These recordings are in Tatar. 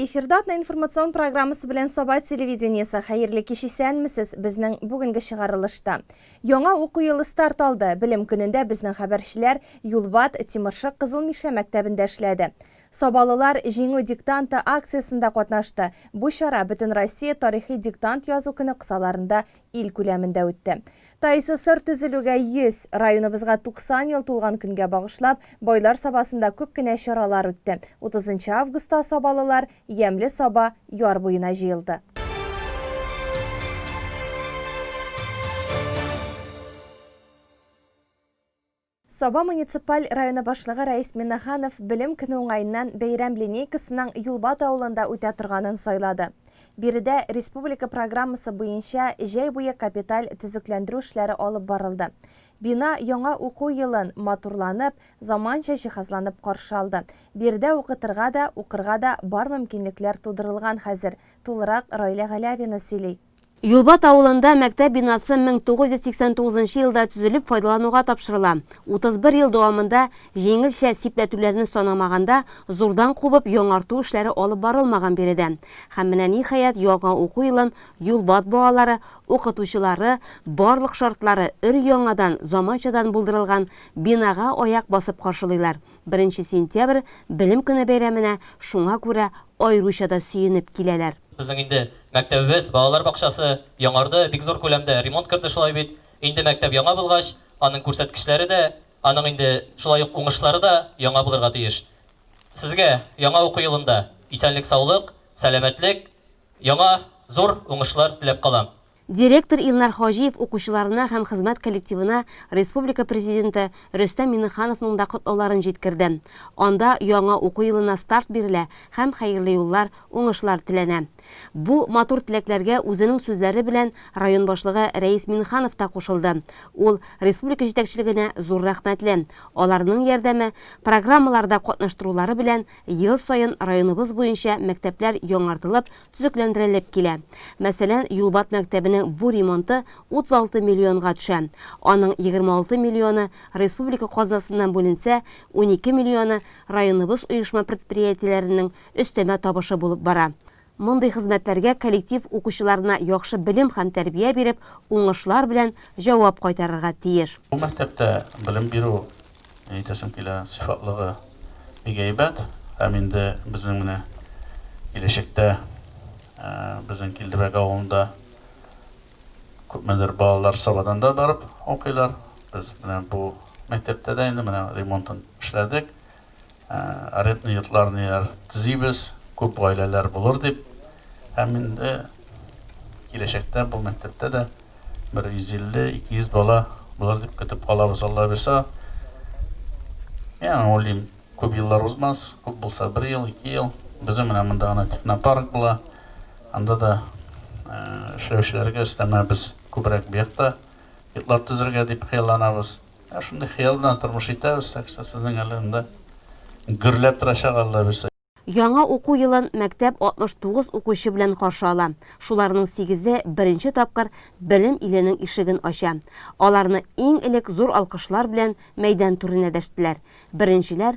Эфирда Атна информацион программасы белән Саба телевидениесе. Хәерле кич исәнмесез. Безнең бүгенге чыгарылышта. Яңа уку елы старт алды. Белем көнендә безнең хәбәрчеләр Юлбат, Тимыршык, Кызыл Мишә мәктәбендә эшләде. Сабалылар Җиңү диктанты акциясендә катнашты. Бу чара Бөтенроссия тарихи диктант язу көне кысаларында ил күләмендә үтте. ТАИССР төзелүгә 100, районыбызга 90 ел тулган көнгә багышлап, Байлар Сабасында күп кенә чаралар үтте. 30 нчы августта сабалылар Ямьле Саба яр буена җыелды. Саба муниципаль районы башлыгы Рәис Миннәханов Белем көне уңаеннан бәйрәм линейкасының Юлбат авылында үтә торганын сайлады. Биредә республика программасы буенча җәй буе капиталь төзекләндерү эшләре алып барылды. Бина яңа уку елын матурланып, заманча җиһазланып каршы алды. Биредә укытырга да, укырга да бар мөмкинлекләр тудырылган хәзер, тулырак Раилә Галәвина сөйли. Юлбат авылында мәктәп бинасы 1989 нчы елда төзелеп файдалануга тапшырыла. 31 ел дәвамында, җиңелчә сипләтүләрне санамаганда, зурдан кубып яңарту эшләре алып барылмаган биредә. Һәм менә ниһаять яңа уку елын Юлбат балалары, укытучылары, барлык шартлары өр-яңадан, заманчадан булдырылган бинага аяк басып каршылыйлар. Беренче сентябрь, Белем көне бәйрәменә шуңа күрә аеруча да сөенеп киләләр. Безнең инде мәктәбебез, балалар бакчасы яңарды, бик зур күләмдә ремонт керде шулай бит. Инде мәктәп яңа булгач, аның күрсәткечләре дә, аның инде шулай ук уңышлары да яңа булырга тиеш. Сезгә яңа уку елында исәнлек-саулык, сәламәтлек, яңа зур уңышлар теләп калам. Директор Илнар Хаҗиев укучыларына һәм хезмәт коллективына республика Президенты Рөстәм Миңнехановның да котлауларын җиткерде. Анда яңа уку елына старт бирелә һәм хәерле юллар, уңышлар теләнә. Бу матур теләкләргә үзенең сүзләре белән район башлыгы Рәис Миңнеханов та кушылды. Ул республика җитәкчелегенә зур рәхмәтле, аларның ярдәме, программаларда катнаштырулары белән ел саен районыбыз буенча мәктәпләр яңартылып, төзекләндерелеп килә. Мәсәлән, Юлбат мәктәбенең бу ремонты 36 миллионга төшә. Аның 26 миллионы республика казнасыннан бүленсә, унике миллионы районыбыз оешма-предприятиеләренең өстәмә табышы булып бара. Мондый хезмәтләргә коллектив укучыларына яхшы белем һәм тәрбия биреп, уңышлар белән җавап кайтарырга тиеш. Бу мәктәптә белем бирү Ни әйтәсем килә, сыйфатлыгы бик әйбәт. Һәм инде безнең менә киләчәктә безнең Килдебәк авылында күпмедер балалар Сабадан да барып укыйлар. Без менә бу мәктәптә дә инде менә ремонтын эшләдек. Арендный йортларныер төзибез, күп гаиләләр булыр дип. Һәм инде киләчәктә бу мәктәптә дә бер 150-200 бала булыр дип көтеп калабыз, Алла бирса. Мин уйлыйм, күп еллар узмас, күп булса бер ел, ике ел. Безнең менә монда гына технопарк була. Анда да эшләүчеләргә өстәмә без күбрәк бу якта йортлар төзергә дип хыялланабыз. Ә шундый хыял белән тормыш итәбез, так что сезнең әле монда гөрләп торачак Алла бирсә. Яңа уку елын мәктәп 69 укучы белән каршы ала. Шуларның сигезе беренче тапкыр белем иленең ишеген ача. Аларны иң элек зур алкышлар белән мәйдан түренә дәштеләр. Беренчеләр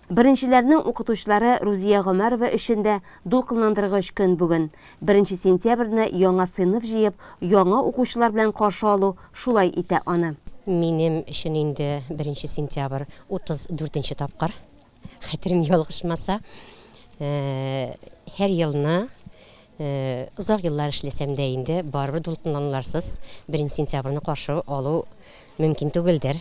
Беренчеләрнең укытучылары Рузия Гомәрова өчен дә дулкынландыргыч көн бүген. Беренче сентябрьне яңа сыйныф җыеп, яңа укучылар белән каршы алу шулай итә аны. Минем өчен инде беренче сентябрь 34 нче тапкыр, хәтерем ялгышмаса. Һәр елны, озак еллар эшләсәм дә инде, барыбер дулкынлануларсыз беренче сентябрьне каршы алу мөмкин түгелдер.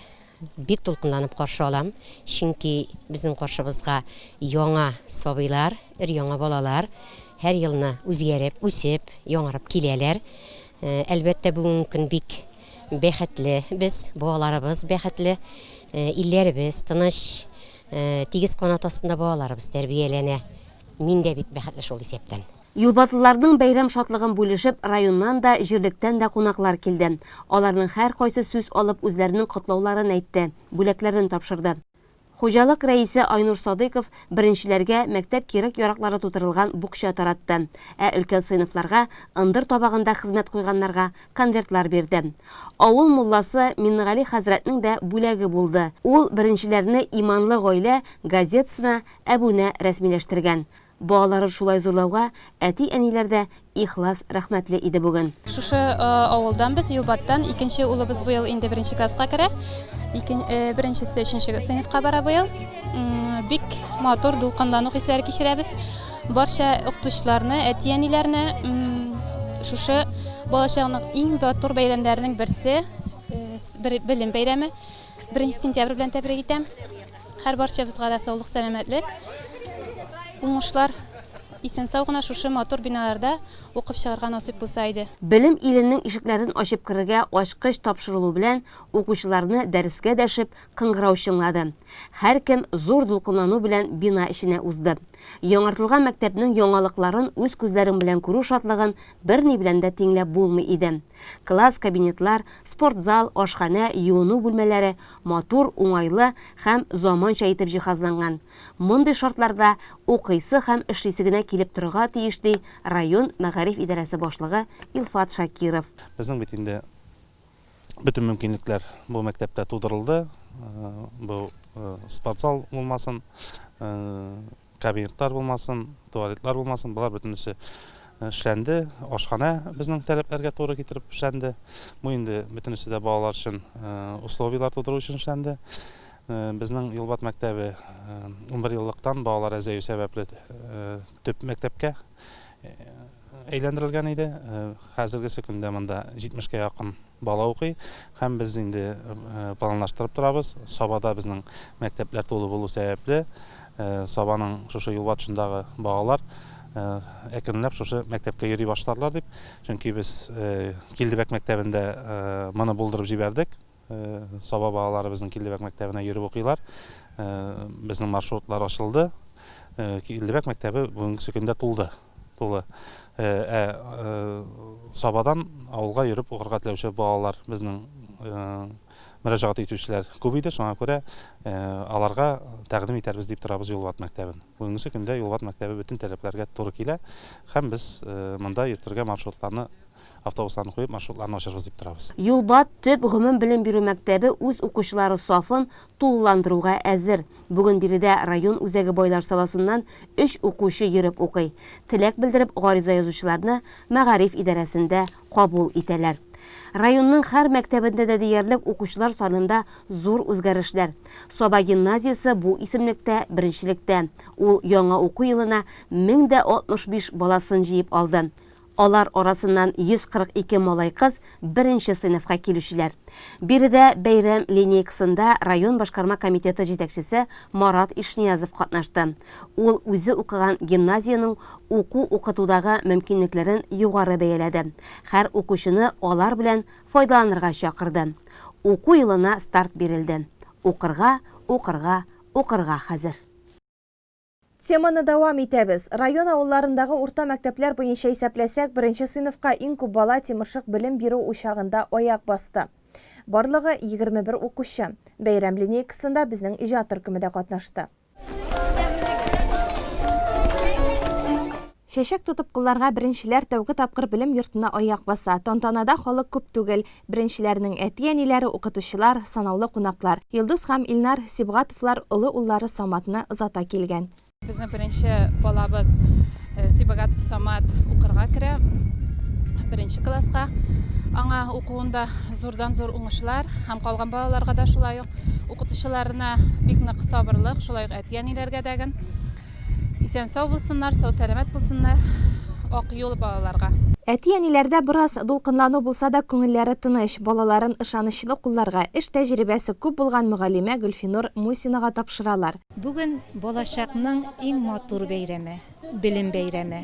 Бик дулкынланып каршы алам, чөнки безнең каршыбызга яңа сабыйлар, өр-яңа балалар һәр елны үзгәреп, үсеп, яңарып киләләр. Әлбәттә, бүгенге көн бик бәхетле без, балаларыбыз бәхетле, илләребез тыныч, тигез канат астында балаларыбыз тәрбияләнә. Мин дә бик бәхетле шул исәптән. Юлбатлыларның бәйрәм шатлыгын бүлешеп, районнан да, җирлектән дә кунаклар килде. Аларның һәркайсы сүз алып үзләренең котлауларын әйтте, бүләкләрен тапшырды. Хуҗалык рәисе Айнур Садыйков беренчеләргә мәктәп кирәк-яраклары тутырылган букча таратты, ә өлкән сыйныфларга, ындыр табагында хезмәт куйганнарга конвертлар бирде. Авыл мулласы Миннегали хәзрәтнең дә бүләге булды. Ул беренчеләрне Иманлы гаилә газетасына әбүнә рәсмиләштергән. Балаларын шулай зурлауга әти-әниләр дә ихлас рәхмәтле иде бүген. Шушы авылдан без, Юлбаттан. Икенче улыбыз быел инде беренче класска керә. Икен, э, беренчесе өченче сыйныфка бара быел. Бик матур дулкынлану хисләре кичерәбез. Барча укытучыларны, әти-әниләрне шушы балачагының иң матур бәйрәмнәренең берсе, э, белем бәйрәме, 1 сентябрь белән тәбрик итәм. Һәр барчабызга да саулык-сәламәтлек, уңышлар, исән-сау гына шушы матур биналарда укып чыгарга насыйп булса иде. Белем иленең ишекләрен ачып керергә ачкыч тапшырылу белән укучыларны дәрескә дәшеп кыңгырау чыңлады. Һәркем зур дулкынлану белән бина эченә узды. Яңартылган мәктәпнең яңалыкларын үз күзләрең белән күрү шатлыгын берни белән дә тиңләп булмый иде. Класс, кабинетлар, спортзал, ашханә, юыну бүлмәләре, матур, уңайлы һәм заманча итеп җиһазланган. Мондый шартларда укыйсы һәм эшлисе генә килеп торырга тиеш, ди район мәгариф идарәсе башлыгы Илфат Шакиров. Безнең бит инде бөтен мөмкинлекләр бу мәктәптә тудырылды. Бу спортзал булмасын. Кабинетлар булмасын, туалетлар булмасын, болар бөтенесе эшләнде. Ашханә безнең таләпләргә туры китереп эшләнде. Бу инде бөтенесе дә балалар өчен условияләр тудыру өчен эшләнде. Безнең Юлбат мәктәбе унбер еллыктан балалар әзәю сәбәпле төп мәктәпкә әйләндерелгән иде. Хәзергесе көндә монда 70 кә якын бала укый һәм без инде планлаштырып торабыз. Сабада безнең мәктәпләр тулы булу сәбәпле, Сабаның шушы юл батышындагы балалар әкренләп шушы мәктәпкә йөри башларлар дип, чөнки без Килдебәк мәктәбендә моны булдырып җибәрдек. Саба балалары безнең Килдебәк мәктәбенә йөреп укыйлар. Безнең маршрутлар ачылды. Килдебәк мәктәбе бүгенге көндә тулды. Тулы. Ә Сабадан авылга йөреп укырга теләүче балалар безнең мөрәҗәгать итүчеләр күп иде, шуңа күрә аларга тәкъдим итәрбез дип торабыз Юлват мәктәбен. Бүгенге көндә Юлват мәктәбе бөтен таләпләргә туры килә һәм без монда йөртергә маршрутларны Автобусларны куеп, маршрутларны ачырбыз дип торабыз. Юлбат төп гомумбелем бирү мәктәбе үз укучылары сафын тулыландыруга әзер. Бүген биредә район үзәге Байлар Саласыннан өч укучы йөреп укый. Теләк белдереп гариза язучыларны мәгариф идарәсендә кабул итәләр. Районның һәр мәктәбендә дә диярлек укучылар санында зур үзгәрешләр. Саба гимназиясе бу исемлектә беренчелектә. Ул яңа уку елына 1065 баласын җыеп алды. Алар арасыннан 142 малай-кыз беренче сыйныфка килүчеләр. Биредә бәйрәм линейкасында район башкарма комитеты җитәкчесе Марат Ишниязов катнашты. Ул үзе укыган гимназиянең уку-укытудагы мөмкинлекләрен югары бәяләде, хәр укучыны алар белән файдаланырга чакырды. Уку елына старт бирелде. Укырга, укырга, укырга хәзер. Теманы дәвам итәбез. Район авылларындагы урта мәктәпләр буенча исәпләсәк, беренче сыйныфка иң күп бала Тимыршык белем бирү учагында аяк басты. Барлыгы, 21 укучы. Бәйрәм линейкасында безнең иҗат төркеме дә катнашты. Чәчәк тотып кулларга беренчеләр тәүге тапкыр белем йортына аяк баса. Тантанада халык күп түгел, беренчеләрнең әти-әниләре, укытучылар, санаулы кунаклар. Илдус һәм Илнар Сибгатовлар олы уллары Саматны озата килгән. Безнең беренче балабыз Сибгатов Самат укырга керә, беренче класска. Аңа укуында зурдан-зур уңышлар һәм калган балаларга да шулай ук. Укытучыларына бик нык сабырлык, шулай ук әти-әниләргә дәген. Исән сау булсыннар, сау сәламәт булсыннар Ак юл балаларга. Әти-әниләрдә бераз дулкынлану булса да күңелләре тыныч, балаларын ышанычлы кулларга, эш тәҗрибәсе күп булган мөгаллимә Гөлфинур Мусинага тапшыралар. Бүген балачакның иң матур бәйрәме, белем бәйрәме.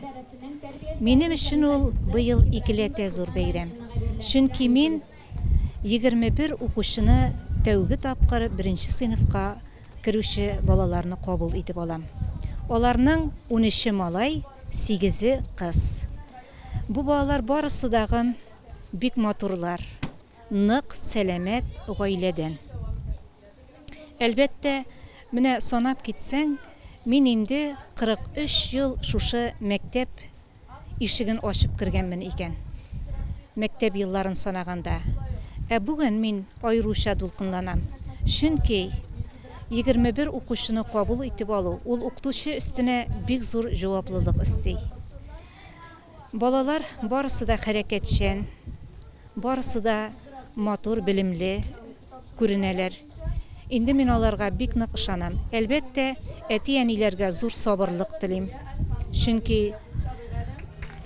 Минем өчен ул быел икеләтә зур бәйрәм, чөнки мин Егерме бер укучыны тәүге тапкыр беренче сыйныфка керүче балаларны кабул итеп алам. Аларның унөче малай, сигезе кыз. Бу балалар барысы дагын бик матурлар, нык, сәламәт гаиләдән. Әлбәттә, менә санап китсәң, мин инде 43 ел шушы мәктәп ишеген ачып кергәнмен икән, мәктәп елларын санаганда. Ә бүген мин аеруча дулкынланам, чөнки егерме бер укучыны кабул итеп алу, ул укытучы өстенә бик зур җаваплылык өсти. Балалар барысы да хәрәкәтчән, барысы да матур, белемле, күренәләр. Инде мин аларга бик нык ышанам. Әлбәттә, әти-әниләргә зур сабырлык телим. Чөнки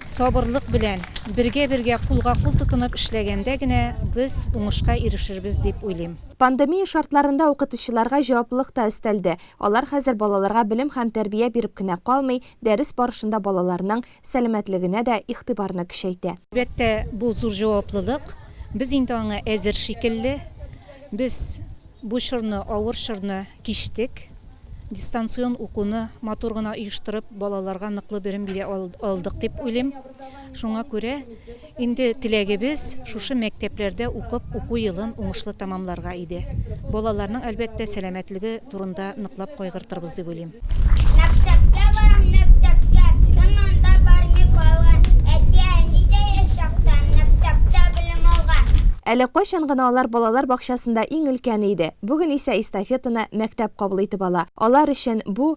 сабырлык белән, бергә-бергә, кулга-кул тотынып эшләгәндә генә без уңышка ирешербез дип уйлыйм. Пандемия шартларында укытучыларга җаваплылык та өстәлде. Алар хәзер балаларга белем һәм тәрбия биреп кенә калмый, дәрес барышында балаларның сәламәтлегенә дә игътибарны көчәйтә. Әлбәттә, бу зур җаваплылык. Без инде аңа әзер шикелле. Без бу чорны, авыр чорны кичтек. Дистанцион укуны матур гына оештырып, балаларга ныклы белем бирә алдык дип уйлыйм. Шуңа күрә, Инде теләгебез, шушы мәктәпләрдә укып, уку елын уңышлы тәмамларга иде. Балаларның, әлбәттә, сәламәтлеге турында ныклап кайгыртырбыз дип уйлыйм. Мәктәпкә барам, мәктәпкә, Кем анда бармый калган? Әти-әни дә яшь чактан, Мәктәптә белем алган. Әле кайчан гына алар балалар бакчасында иң өлкәне иде, бүген исә эстафетаны мәктәп кабул итеп ала. Алар өчен бу,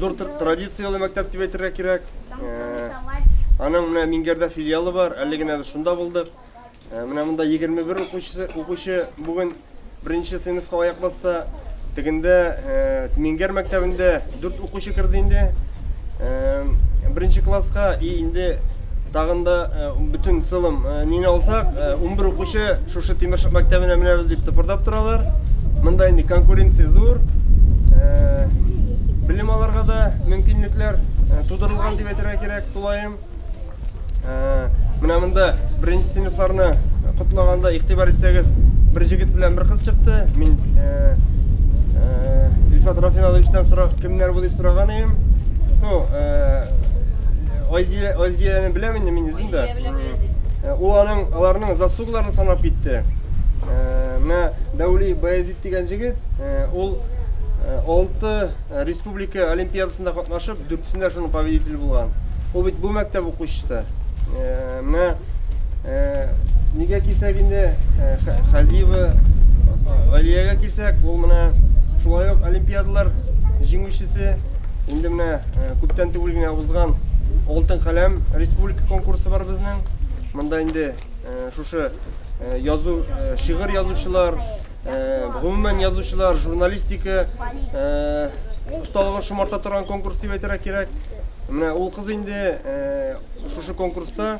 Зур традицияле мәктәп дип әйтергә кирәк. Э, аның менә Мингәрдә филиалы бар, әле генә без шунда булдык. Э, менә монда 21 укучы, укучы бүген беренче сыйныфка аяк басса. Тегендә э, Мингәр мәктәбендә 4 укучы керде инде. Беренче класска и инде Тагын да бөтен сылым нине алсак, 11 укучы шушы Тимершык мәктәбенә менәбез дип тыпырдап торалар. Монда инде конкуренция зур. Белем аларга да мөмкинлекләр тудырылган дип әйтергә кирәк, тулаем. Менә монда беренче сыйныфларны котлаганда игътибар итсәгез, бер җегет белән бер кыз чыкты. Мин Ильфат Рафиналовичтан сорап, кемнәр бу дип сораган идем. Ну, Айзия, Айзияне беләм инде мин үзем дә. Айзия беләм Айзия. Э, ул аның аларның заслугларын санап китте. Э, менә Дәүли Баязит дигән җегет, э, ул 6 республика олимпиадасында катнашып, дүртсендә шуның победителе булган. Ул бит бу мәктәп укучысы. Менә нигә кисәк инде Хазиева Галиягә кисәк, ул менә шулай ук олимпиадалар җиңүчесе Инде менә күптән түгел генә узган Алтын каләм республика конкурсы бар безнең. Монда инде шушы язу шигырь язучылар, гомумән язучылар, журналистика осталыгын шомарта торган конкурс дип әйтергә кирәк. Менә ул кыз инде шушы конкурста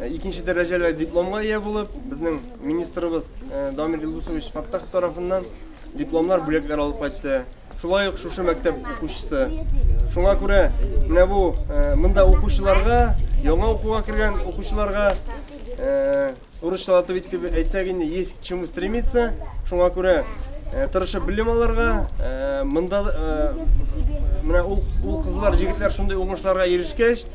икенче дәрәҗәле дипломга ия булып, безнең министрыбыз Дамир Илдусович Фаттахов тарафыннан дипломнар бүләкләр алып кайтты. Шулай ук шушы мәктәп укучысы. Шуңа күрә менә бу монда укучыларга, яңа укуга кергән укучыларга урысча атып итеп әйтсәк инде есть к чему стремиться. Шуңа күрә тырышып белем алырга, монда менә ул кызлар, җегетләр шундый уңышларга ирешкәч,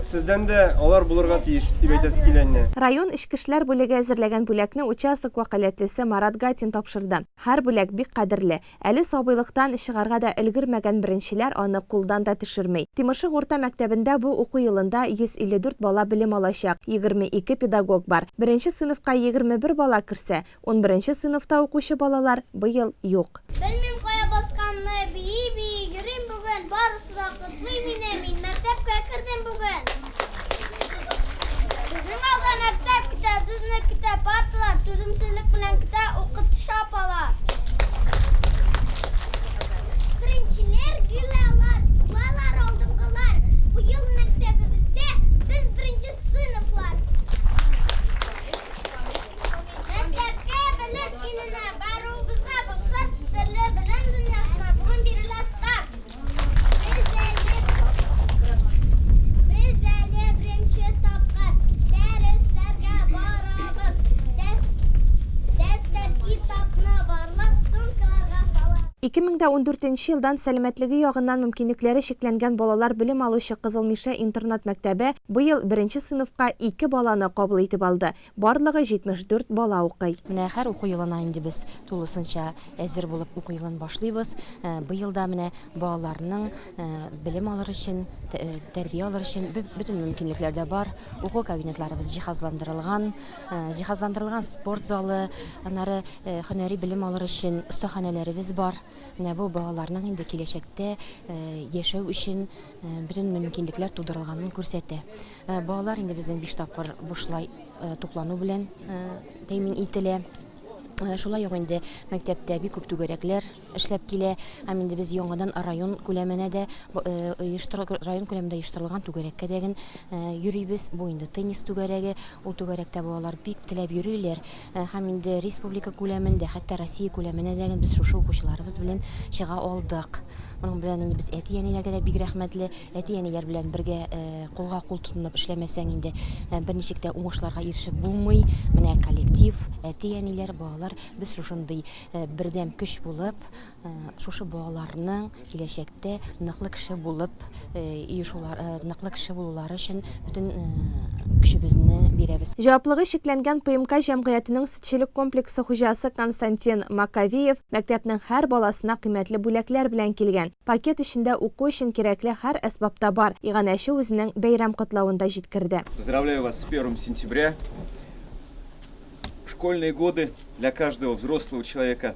сездән дә алар булырга тиеш дип әйтәсе килә инде. Район эчке эшләр бүлеге әзерләгән бүләкне участок вәкаләтлесе Марат Гатин тапшырды. Һәр бүләк бик кадерле. Әле сабыйлыктан чыгарга да өлгермәгән беренчеләр аны кулдан да төшерми. Тимашык урта мәктәбендә бу уку елында 154 бала белем алачак, 22 педагог бар. Беренче сыйныфка 21 бала керсә, унберенче сыйныфта укучы балалар быел юк. Белмим кая басканны, бии-бии йөрим бүген, барысы. Суда котлый мине, мин мәктәпкә кердем бүген. Безнең алда мәктәп көтә, безне көтә парталар, түземсезлек белән көтә укытучы апалар. Беренчеләр гүләлар, булалар алдынгылар. Быел мәктәбебездә без беренче сыйныфлар. Мәктәпкә белем иленә баруыбызга рөхсәт, серле белем дөньясына бүген бирелә старт. Ике мең дә ундүртенче елдан сәламәтлеге ягыннан мөмкинлекләре чикләнгән балалар белем алучы Кызыл Мишә интернат-мәктәбе быел беренче сыйныфка ике баланы кабул итеп алды. Барлыгы 74 бала укый. Менә һәр уку елына инде без тулысынча әзер булып уку елын башлыйбыз. Быел да менә балаларның белем алыр өчен, тәрбия алыр өчен бөтен мөмкинлекләр дә бар. Уку кабинетларыбыз җиһазландырылган. Җиһазландырылган спорт залы, аннары һөнәри белем алыр өчен остаханәләребез бар. Менә бу балаларның инде киләчәктә яшәү өчен бөтен мөмкинлекләр тудырылганын күрсәтә. Балалар инде безнең биш тапкыр бушлай туклану белән тәэмин ителә. Шулай ук инде мәктәптә бик күп түгәрәкләр эшләп килә. Һәм инде без яңадан район күләменә дә район күләмендә оештырылган түгәрәккә дә йөрибез. Бу инде теннис түгәрәге. Ул түгәрәктә балалар бик теләп йөриләр. Һәм инде республика күләмендә, хәтта Россия күләменә дә без шушы укучыларыбыз белән чыга алдык. Моның белән инде без әти-әниләргә дә бик рәхмәтле. Әти-әниләр белән бергә кулга-кул тотынып эшләмәсәң инде берничек тә уңышларга ирешеп булмый. Менә коллектив, әти-әниләр, балалар, без шушындый бердәм көч булып, Шушы балаларның киләчәктә ныклы кеше булып, ныклы кеше булулары өчен бөтен көчебезне бирәбез. Җаваплыгы чикләнгән ПМК җәмгыятенең сөтчелек комплексы хуҗасы Константин Маковеев мәктәпнең һәр баласына кыйммәтле бүләкләр белән килгән. Пакет эчендә уку өчен кирәкле һәр әсбап та бар, иганәче үзенең бәйрәм котлавында җиткерде. Поздравляю вас с первым сентября! Школьные годы для каждого взрослого человека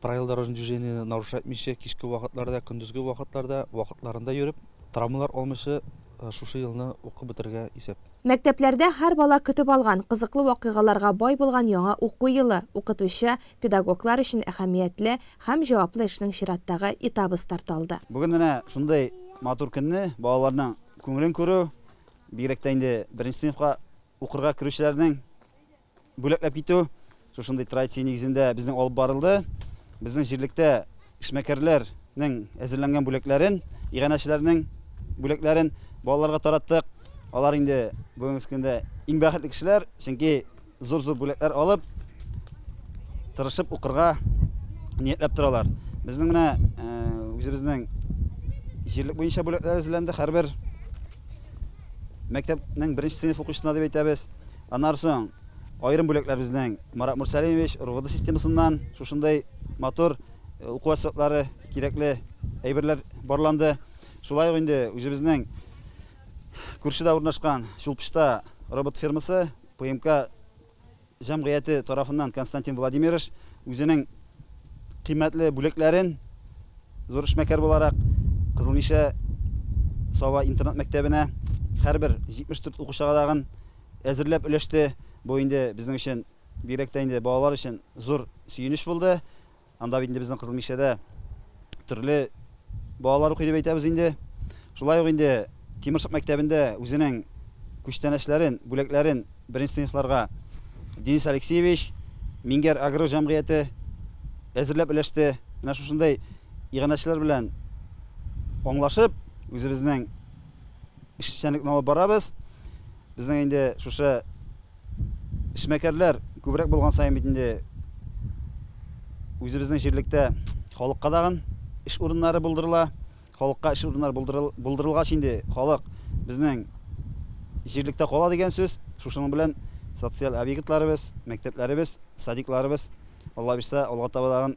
Правила дорожного движения нарушать итмичә, кичке вакытларда, көндезге вакытларда вакытларында йөреп, травмалар алмыйча шушы елны укып бетерергә исәп. Мәктәпләрдә һәр бала көтеп алган, кызыклы вакыйгаларга бай булган яңа уку елы, укытучы, педагоглар өчен әһәмиятле һәм җаваплы эшнең чираттагы этабы старт алды. Бүген менә шундый матур көнне балаларның күңелен күрү, бигрәк тә инде беренче сыйныфка укырга керүчеләрнең Бүләкләп китү шушындый традиция нигезендә безнең алып барылды. Безнең җирлектә эшмәкәрләрнең әзерләнгән бүләкләрен, иганәчеләрнең бүләкләрен балаларга тараттык. Алар инде бүгенге көндә иң бәхетле кешеләр, чөнки зур-зур бүләкләр алып, тырышып укырга ниятләп торалар. Безнең менә э, үзебезнең җирлек буенча бүләкләр әзерләнде. Һәрбер мәктәпнең беренче сыйныф укучысына дип әйтәбез. Аннан соң аерым бүләкләр безнең Марат Мурсәлимович РОВД системасыннан шушындый матур уку әсбаплары, кирәкле әйберләр барланды. Шулай ук инде үзебезнең күршедә урнашкан Чулпычта робот фермасы ПМК җәмгыяте тарафыннан Константин Владимирович үзенең Кыйммәтле бүләкләрен зур эшмәкәр буларак Кызыл Мишә Саба интернат-мәктәбенә һәрбер 74 укучыга тагын әзерләп өләште. Бу инде безнең өчен, бигрәк тә инде балалар өчен зур сөенеч булды. Анда бит инде безнең Кызыл Мишәдә төрле Балалар укый дип әйтәбез инде. Шулай ук инде Тимершык мәктәбендә үзенең күчтәнәчләрен, бүләкләрен беренче сыйныфларга Денис Алексеевич, Мингәр Агро җәмгыяте әзерләп өләште. Менә шушындый иганәчеләр белән аңлашып, үзебезнең эшчәнлекне алып барабыз. Безнең инде шушы Эшмәкәрләр күбрәк булган саен бит инде үзебезнең җирлектә халыкка тагын эш урыннары булдырыла. Халыкка эш урыннары булдырыл, булдырылгач инде халык безнең җирлектә кала дигән сүз. Шушының белән социаль объектларыбыз, мәктәпләребез, садикларыбыз Алла бирса алга таба тагын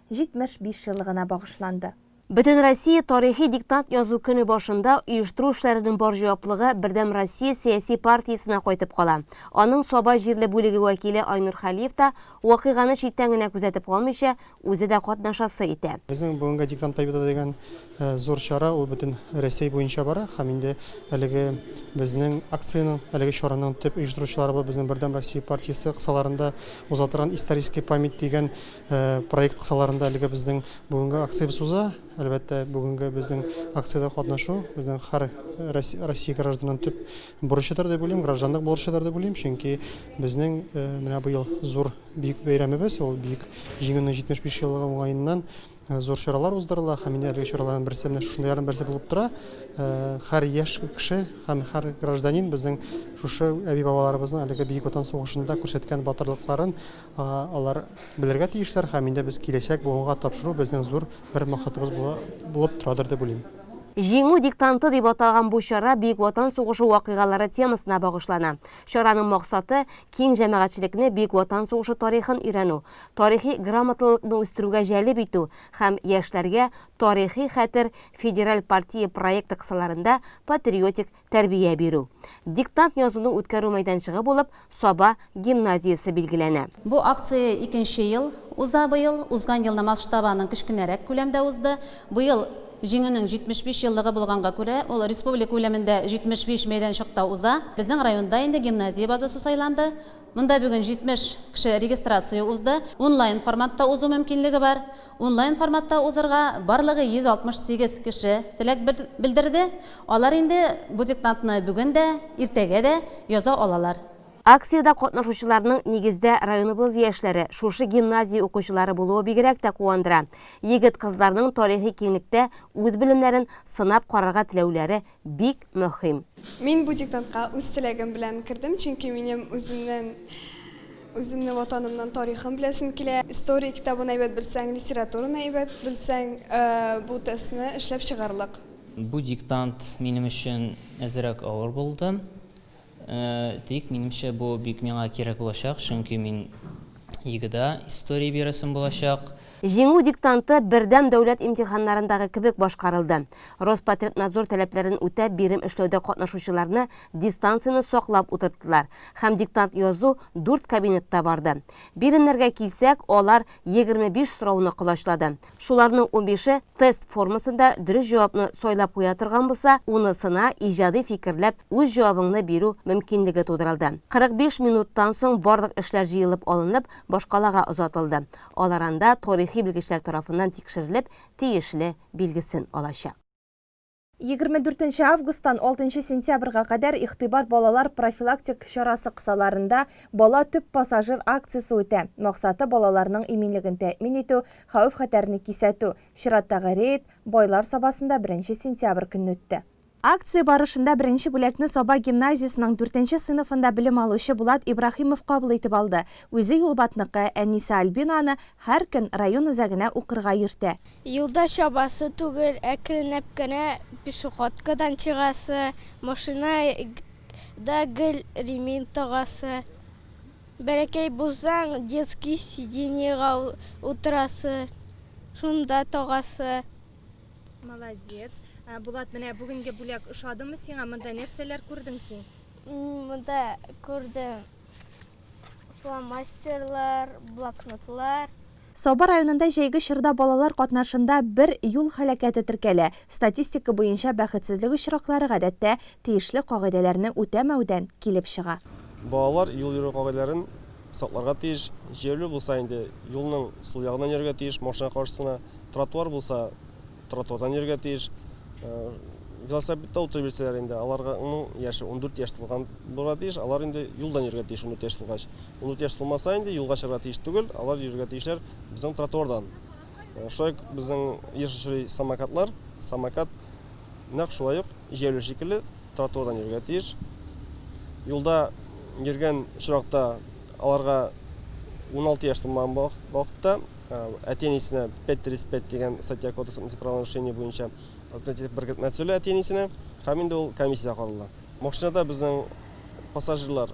75 еллыгына багышланды. Бөтенроссия тарихи диктант язу көне башында оештыру эшләренең бар җаваплыгы Бердәм Россия сәяси партиясенә кайтып кала. Аның Саба җирле бүлеге вәкиле Айнур Хәлиев та вакыйганы читтән генә күзәтеп калмыйча, үзе дә катнашасы итә. Безнең бүгенге Диктант Победы дигән зур чара, ул бөтен Рәсәй буенча бара һәм инде әлеге безнең акциянең, әлеге чараның төп оештыручылары булып безнең Бердәм Россия партиясе кысаларында уза торган Исторический память дигән Проект кысаларында әлегә безнең бүгенге акциябез уза. Әлбәттә, бүгенге безнең акциядә катнашу безнең һәр Россия гражданының төп бурычыдыр дип уйлыйм, гражданлык бурычыдыр дип уйлыйм, чөнки безнең менә быел зур бөек бәйрәмебез, ул Бөек Җиңүнең 75 еллыгы уңаеннан зур чаралар уздырыла һәм инде әлеге чараларның берсе менә шушындыйларның берсе булып тора. Һәр яшь кеше һәм һәр гражданин безнең шушы әби-бабаларыбызның әлеге Бөек Ватан сугышында күрсәткән батырлыкларын Алар белергә тиешләр һәм инде без киләчәк буынга тапшыру безнең зур бер максатыбыз булып торадыр дип уйлыйм. Җиңү диктанты дип аталган бу чара Бөек Ватан сугышы вакыйгалары темасына багышлана. Чараның максаты, киң җәмәгатьчелекне Бөек Ватан сугышы тарихын өйрәнү, тарихи грамотлылыкны үстерүгә җәлеп итү һәм яшьләргә Тарихи хәтер федераль партия проекты кысаларында патриотик тәрбия бирү, диктант язуны үткәрү мәйданчыгы булып Саба гимназиясе билгеләнә. Бу акция икенче ел уза быел. Узган елны масштабы аның кечкенәрәк күләмдә узды. Быел Җиңүнең 75 еллыгы булганга күрә, ул республика күләмендә 75 мәйданчыкта уза. Безнең районда инде гимназия базасы сайланды. Монда бүген 70 кеше регистрация узды. Онлайн форматта узу мөмкинлеге бар. Онлайн форматта узырга барлыгы 168 кеше теләк белдерде. Алар инде бу диктантны бүген дә, иртәгә дә яза алалар. Акциядә катнашучыларның нигездә районыбыз яшьләре, шушы гимназия укучылары булуы бигрәк тә куандыра. Егет-кызларның тарихи киңлектә үз белемнәрен сынап карарга теләүләре бик мөһим. Мин бу диктантка үз теләгем белән кердем, чөнки минем үземнен үземне ватанымнын тарихын беләсем килә. История китабын әйбәт белсәң, литератураны әйбәт белсәң, бу тестны эшләп чыгарлык. Бу диктант минем өчен әзерәк авыр булды. Тик, минемчә, бу бик миңа кирәк булачак, чөнки мин ЕГЭда история бирәсем булачак. Җиңү диктанты бердәм дәүләт имтиханнарындагы кебек башкарылды. Роспотребнадзор таләпләрен үтәп, бирем эшләүдә катнашучыларны дистанцияне саклап утырттылар һәм диктант язу дүрт кабинетта барды. Биремнәргә килсәк, алар егерме биш сорауны колачлады. Шуларның унбише тест формасында дөрес җавапны сайлап куя торган булса, унысына иҗади фикерләп үз җавабыңны бирү мөмкинлеге тудырылды. 45 минуттан соң барлык эшләр җыелып алынып, башкалага озатылды. Алар анда тарихи белгечләр тарафыннан тикшерелеп, тиешле билгесен алачак. Егерме дүртенче августтан алтынчы сентябрьгә кадәр Игътибар балалар профилактик чарасы кысаларында Бала, төп пассажир акциясе үтә. Максаты, балаларның иминлеген тәэмин итү, хәвеф-хәтәрне кисәтү. Чираттагы рейд Байлар Сабасында беренче сентябрь көнне үтте. Акция барышында беренче бүләкне Саба гимназиясенең дүртенче сыйныфында белем алучы Булат Ибраһимов кабул итеп алды. Үзе Юлбатныкы, әнисе Альбина аны һәр көн район үзәгенә укырга йөртә. Юлда чабасы түгел, әкренләп кенә пешеходкадан чыгасы, машина да гел ремень тагасы. Бәләкәй булсаң, детский сиденьега утырасы, шунда тагасы. Молодец. Булат, менә бүгенге бүләк ошадымы сиңа? Монда нәрсәләр күрдең син? Монда күрдем фломастерлар, блокнотлар. Саба районында җәйге чорда балалар катнашында бер юл һәлакәте теркәлә. Статистика буенча бәхетсезлек очраклары, гадәттә, тиешле кагыйдәләрне үтәмәүдән килеп чыга. Балалар юл йөрү кагыйдәләрен сакларга тиеш. Җәяүле булса инде юлның сул ягыннан йөрергә тиеш, машина каршысына, тротуар булса, тротуардан йөрергә тиеш. Велосипедта утырып йөрсәләр инде, аларның яше ундүрт яшь тулган булырга тиеш, алар инде юлдан йөрергә тиеш ундүрт яшь тулгач. Ул дүрт яшь тулмаса инде, юлга чыгарга тиеш түгел, алар йөрергә тиешләр безнең тротуардан. Шулай ук безнең еш очрый самокатлар, самокат нәкъ шулай ук җәяүле шикелле тротуардан йөрергә тиеш. Юлда йөргән очракта аларга 16 яшь тулмаган вакытта әти-әнисенә 535 дигән статья кодекс административ правонарушение буенча административ беркетмә төзелә әти-әнисенә һәм инде ул комиссия карала. Машинада безнең пассажирлар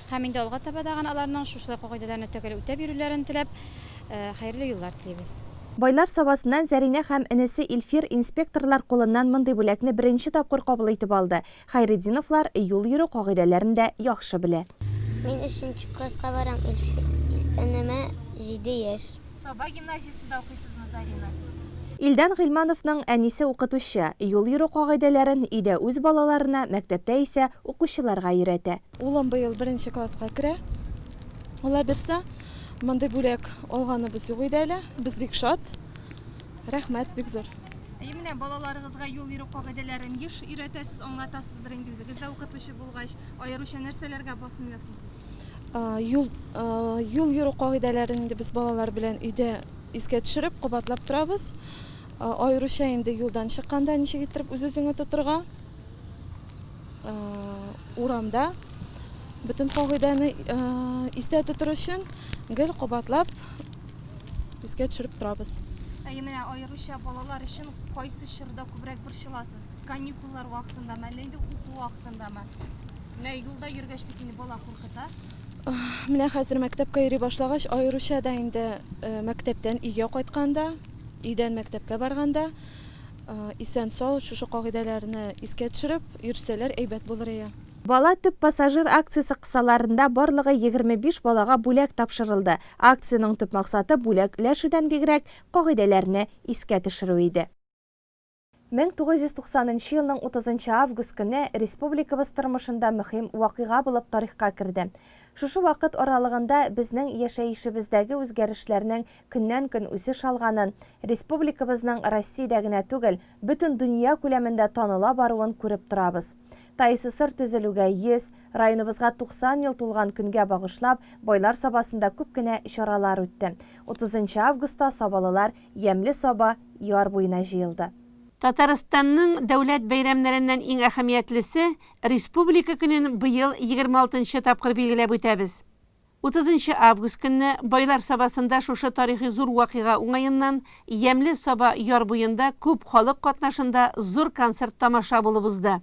Һәм инде алга таба да аларның шушылай кагыйдәләрне төгәл үтәп йөрүләрен теләп, хәерле юллар телибез. Байлар Сабасыннан Зәринә һәм энесе Илфир инспекторлар кулыннан мондый бүләкне беренче тапкыр кабул итеп алды. Хәйретдиновлар юл йөрү кагыйдәләрен дә яхшы белә. Мин өченче класска барам, Илфир энемә җиде яшь. Саба гимназиясендә укыйсызмы, Зарина? Илдан Гыйльмановның әнисе укытучы, юл йөрү кагыйдәләрен өйдә үз балаларына, мәктәптә исә укучыларга өйрәтә. Улым быел беренче класска керә. Аллабирса, мондый бүләк алганыбыз юк иде әле. Без бик шат. Рәхмәт бик зур. И менә балаларыгызга юл йөрү кагыйдәләрен еш өйрәтәсез, аңлатасыздыр инде үзегез дә укытучы булгач. Аеруча нәрсәләргә басым ясыйсыз? Юл юл йөрү кагыйдәләрен инде без балалар белән өйдә искә төшереп, кабатлап торабыз. Аеруча инде юлдан чыкканда ничек иттереп үз-үзеңне тотырга. Урамда бөтен кагыйдәне истә тотыр өчен гел кабатлап искә төшереп торабыз. Әйе, менә аеруча балалар өчен кайсы чорда күбрәк борчыласыз? Каникуллар вакытындамы, әллә инде уку вакытындамы? Менә юлда йөргәч бит инде бала куркыта. Менә хәзер мәктәпкә йөри башлагач, аеруча да инде мәктәптән өйгә кайтканда, өйдән мәктәпкә барганда Исән-сау, шушы кагыйдәләрне искә төшереп йөрсәләр әйбәт булыр ие. Бала төп пассажир акциясе кысаларында барлыгы егерме биш балага бүләк тапшырылды. Акциянең төп максаты бүләк өләшүдән бигрәк, кагыйдәләрне искә төшерү иде. Мең тугыз йөз туксан нчы елның утызынчы август көне республикабыз тормышында мөһим вакыйга булып тарихка керде. Шушы вакыт аралыгында безнең яшәешебездәге үзгәрешләрнең көннән-көн үсеш алганын, республикабызның Россиядә генә түгел, бөтен дөнья күләмендә таныла баруын күреп торабыз. ТАИССР төзелүгә 100, районыбызга 90 ел тулган көнгә багышлап, Байлар Сабасында күп кенә чаралар үтте. Утызынчы августта сабалылар Ямьле Саба яр буена җыелды. Татарстанның дәүләт бәйрәмнәреннән иң әһәмиятлесе, Республика көнен быел егерме алтынчы тапкыр билгеләп үтәбез. Утызынчы август көнне Байлар Сабасында шушы тарихи зур вакыйга уңаеннан Ямьле Саба яр буенда күп халык катнашында зур концерт-тамаша булып узды.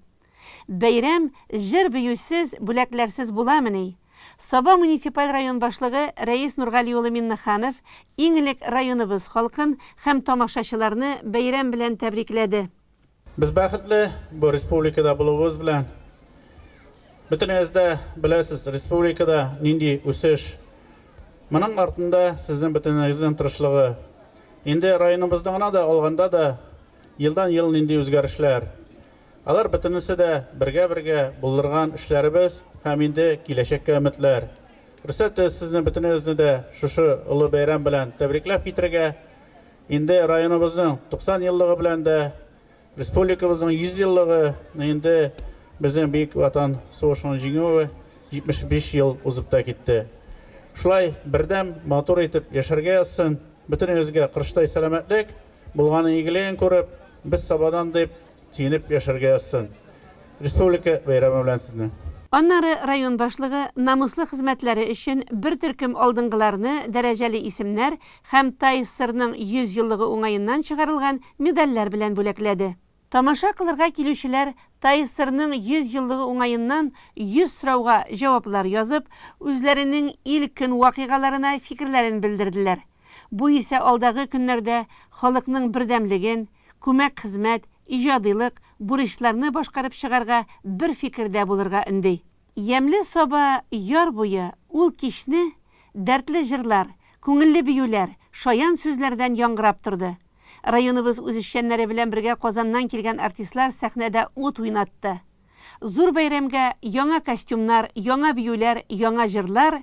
Бәйрәм җыр-биюсез, бүләкләрсез буламыни? Саба муниципаль район башлыгы Рәис Нургали улы Миннеханов иң элек районыбыз халкын һәм тамашачыларны бәйрәм белән тәбрикләде. Без бәхетле бу республикада булуыбыз белән. Бөтенегез дә беләсез, республикада нинди үсеш. Моның артында сезнең бөтенегезнең тырышлыгы. Инде районыбызны гына да алганда да, елдан-ел нинди үзгәрешләр. Алар бөтенесе дә бергә-бергә булдырган эшләребез һәм инде киләчәккә өметләр. Рөхсәт итегез сезне бөтенегезне дә шушы олы бәйрәм белән тәбрикләп китерергә. Инде районыбызның 90 еллыгы белән дә, республикабызның 100 еллыгы, инде безнең Бөек Ватан сугышының җиңүе 75 ел узып та китте. Шулай бердәм, матур итеп яшәргә язсын, бөтенегезгә кырыштай сәламәтлек, булганын игелеген күреп, без Сабадан дип сөенеп яшәргә язсын. Республика бәйрәме белән сезне! Аннары район башлыгы намуслы хезмәтләре өчен бер төркем алдынгыларны дәрәҗәле исемнәр һәм ТАССРның 100 еллыгы уңаеннан чыгарылган медальләр белән бүләкләде. Тамаша кылырга килүчеләр ТАССРның 100 еллыгы уңаеннан 100 сорауга җаваплар язып, үзләренең ил-көн вакыйгаларына фикерләрен белдерделәр. Бу исә алдагы көннәрдә халыкның бердәмлеген, күмәк-хезмәт, иҗадыйлык, бурычларны башкарып чыгарга бер фикердә булырга өнди. Ямьле саба яр буе ул кичне дәртле җырлар, күңелле биюләр, шаян сүзләрдән яңгырап торды. Районыбыз үзешчәннәре белән бергә Казаннан килгән артистлар сәхнәдә ут уйнатты. Зур бәйрәмгә яңа костюмнар, яңа биюләр, яңа җырлар,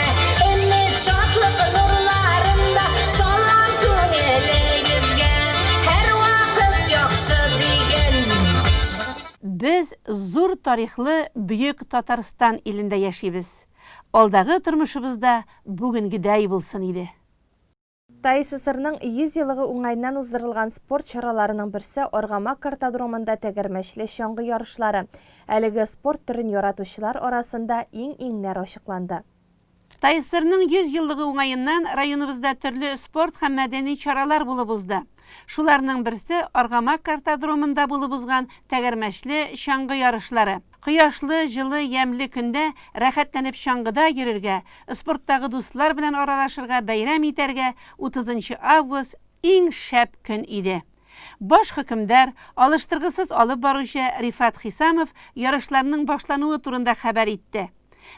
Өмет, шатлык нурларында салам күңелегезгә, һәрвакыт яхшы дигән мин. Без зур тарихлы бөек Татарстан илендә яшибез, алдагы тормышыбыз да бүгенгедәй булсын иде. ТАИССРның 100 елыгы уңаеннан уздырылган спорт чараларының берсе Аргамак картодромында тәгәрмәчле чаңгы ярышлары. Әлеге спорт төрен яратучылар арасында иң-иңнәр ачыкланды. ТАИССРның 100 еллыгы уңаеннан районыбызда төрле спорт һәм мәдәни чаралар булып узды. Шуларның берсе Аргамак картодромында булып узган тәгәрмәчле чаңгы ярышлары. Кояшлы, җылы, ямьле көндә рәхәтләнеп чаңгыда йөрергә, спорттагы дуслар белән аралашырга, бәйрәм итәргә утызынчы август иң шәп көн иде. Баш хөкемдар, алыштыргысыз алып баручы Рифат Хисамов ярышларның башлануы турында хәбәр итте.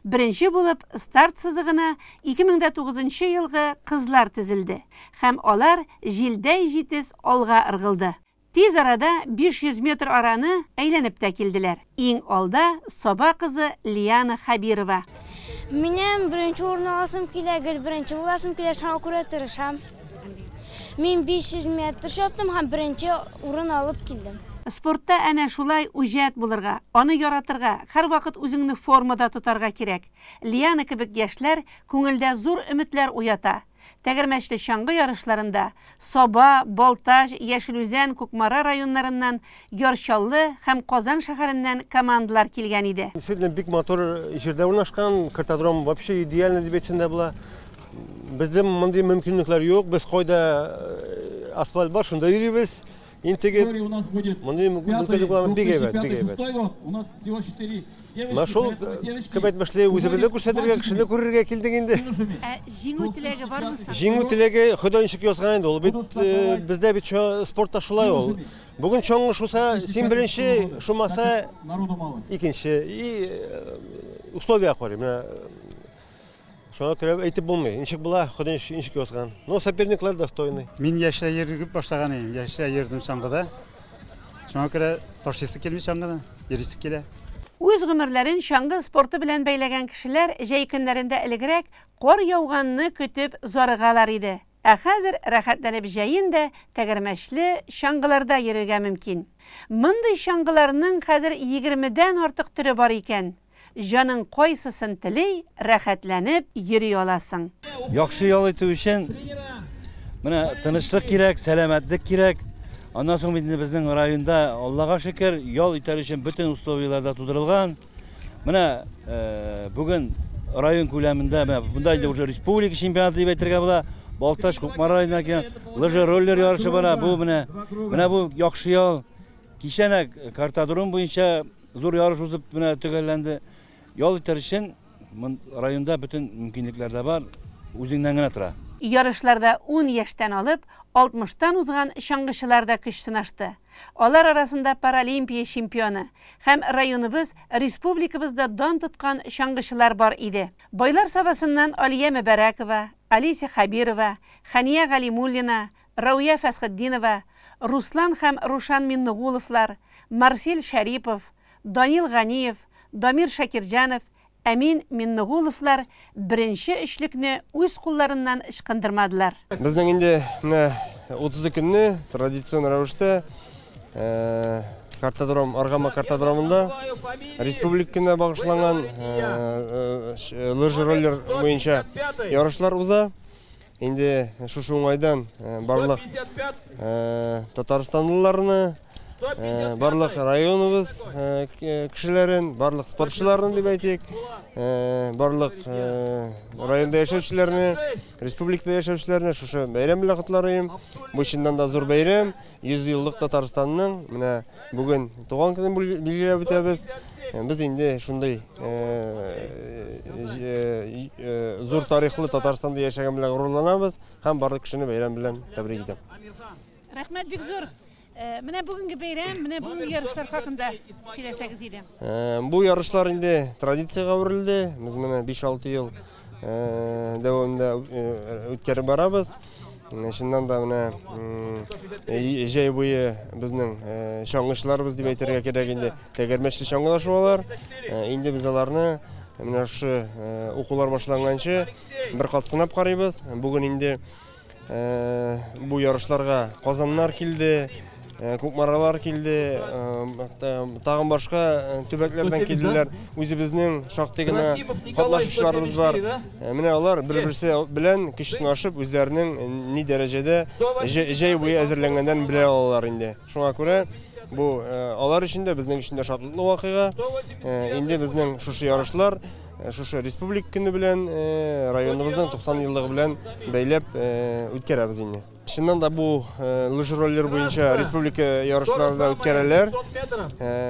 Беренче булып старт сызыгына 2009 нчы елгы кызлар тезелде һәм алар җилдәй җитез алга ыргылды. Тиз арада 500 метр араны әйләнеп тә килделәр. Иң алда, Саба кызы Лиана Хәбирова. Минем беренче урын аласым килә, гел беренче буласым килә, шуңа күрә тырышам. Мин 500 метр чаптым һәм беренче урын алып килдем. Спортта әнә шулай үҗәт булырга, аны яратырга, һәрвакыт үзеңне формада тотарга кирәк. Лиана кебек яшьләр күңелдә зур өметләр уята. Тәгәрмәчле чаңгы ярышларында Саба, Балтач, Яшел Үзән, Кукмара районнарыннан, Яр Чаллы һәм Казан шәһәреннән командалар килгән иде. Действительно бик матур җирдә урнашкан, картодром вообще идеально дип әйтсәң дә була. Бездә мондый мөмкинлекләр юк, без кайда асфальт бар, шунда йөрибез. интегеп, мондый мөмкинлек алган бик әйбәт, бик әйбәт. Менә шул күп әйтмешли үзебезне күрсәтергә, кешене күрергә килдек инде. Ә җиңү теләге бармы соң? Җиңү теләге Ходай ничек язган инде ул. Бит бездә бит спортта шулай ул. Бүген чоңгы шуса, син беренче, шумаса икенче. И условия карый. Менә Шуңа күрә әйтеп булмый. Ничек була, Ходай ничек язган. Ну, соперниклар достойный. Мин яшьтә йөреп башлаган идем. Яшьтә йөрдем чаңгыда. Шуңа күрә ташыйсы килми чаңгыны, йөрисе килә. Үз гомерләрен чаңгы спорты белән бәйләгән кешеләр җәй көннәрендә элегрәк кар яуганны көтеп зарыгалар иде. Ә хәзер рәхәтләнеп җәен дә тәгәрмәчле чаңгыларда йөрергә мөмкин. Мондый чаңгыларның хәзер егермедән артык төре бар икән. Җаның кайсысын тели, рәхәтләнеп йөри аласың. Яхшы ял итү өчен менә тынычлык кирәк, сәламәтлек кирәк. Аннан соң инде безнең районда, Аллага шөкер, ял итәр өчен бөтен условияләр дә тудырылган. Менә бүген район күләмендә, менә монда инде уже республика чемпионаты дип әйтергә була. Балтач Кукмара районына килгән лыжи-роллер ярышы бара. Бу менә менә бу яхшы ял. Кичәнәк картодром буенча Зур ярыш узып менә төгәлләнде. Ял итәр өчен районда бөтен мөмкинлекләр дә бар, үзеңнән генә тора. Ярышларда ун яшьтән алып алтмыштан узган чаңгычылар да көч сынашты. Алар арасында Паралимпия чемпионы һәм районыбыз, республикабыз да дан тоткан чаңгычылар бар иде. Байлар Сабасыннан Алия Мөбәрәкова, Олеся Хәбирова, Хәния Галимуллина, Рауя Фәсхетдинова, Руслан һәм Рушан Миннугуловлар, Марсель Шәрипов, Данил Ганиев, Дамир Шакирҗанов, Әмин Миннугуловлар беренче өчлекне үз кулларыннан ычкындырмадылар. Безнең инде менә 30 көнне традицион рәвештә картодром, Аргама картодромында республик көненә багышланган лыжи-роллер буенча ярышлар уза. Инде шушы уңайдан барлык татарстанлыларны, барлык районыбыз кешеләрен, барлык спортчыларны дип әйтик, барлык районда яшәүчеләрне, республикада яшәүчеләрне шушы бәйрәм белән котларыйм. Бу чыннан да зур бәйрәм. Йөзьеллык Татарстанның менә бүген туган көнен билгеләп үтәбез. Без инде шундый зур тарихлы Татарстанда яшәгән белән горурланабыз һәм барлык кешене бәйрәм белән тәбрик итәм. Рәхмәт бик зур. Э, менә бүгенге бәйрәм, менә бүгенге ярышлар хакында сөйләсәгез иде. Э, бу ярышлар инде традициягә әверелде. Без менә 5-6 ел дәвамында үткәреп барабыз. Чыннан да менә җәй буе безнең чаңгычларыбыз дип әйтергә кирәк инде тәгәрмәчле чаңгылар шуалар. Инде без аларны менә шушы укулар башланганчы бер кат сынап карыйбыз. Бүген инде Бу ярышларга Казаннар килде, Э, кукмаралар килде э, э, тагын башка төбәкләрдән килделәр үзебезнең шактый гына катнашучыларыбыз бар менә алар бер берсе белән көч сынашып үзләренең ни дәрәҗәдә җәй буе әзерләнгәннәрен белә алалар инде шуңа күрә бу алар өчен дә безнең өчен дә шатлыклы вакыйга инде безнең шушы ярышлар Э, шушы республик көне белән э, районыбызның 90 еллыгы белән бәйләп э, үткәрәбез инде чыннан да бу лыжи роллер буенча республика ярышлары да үткәрәләр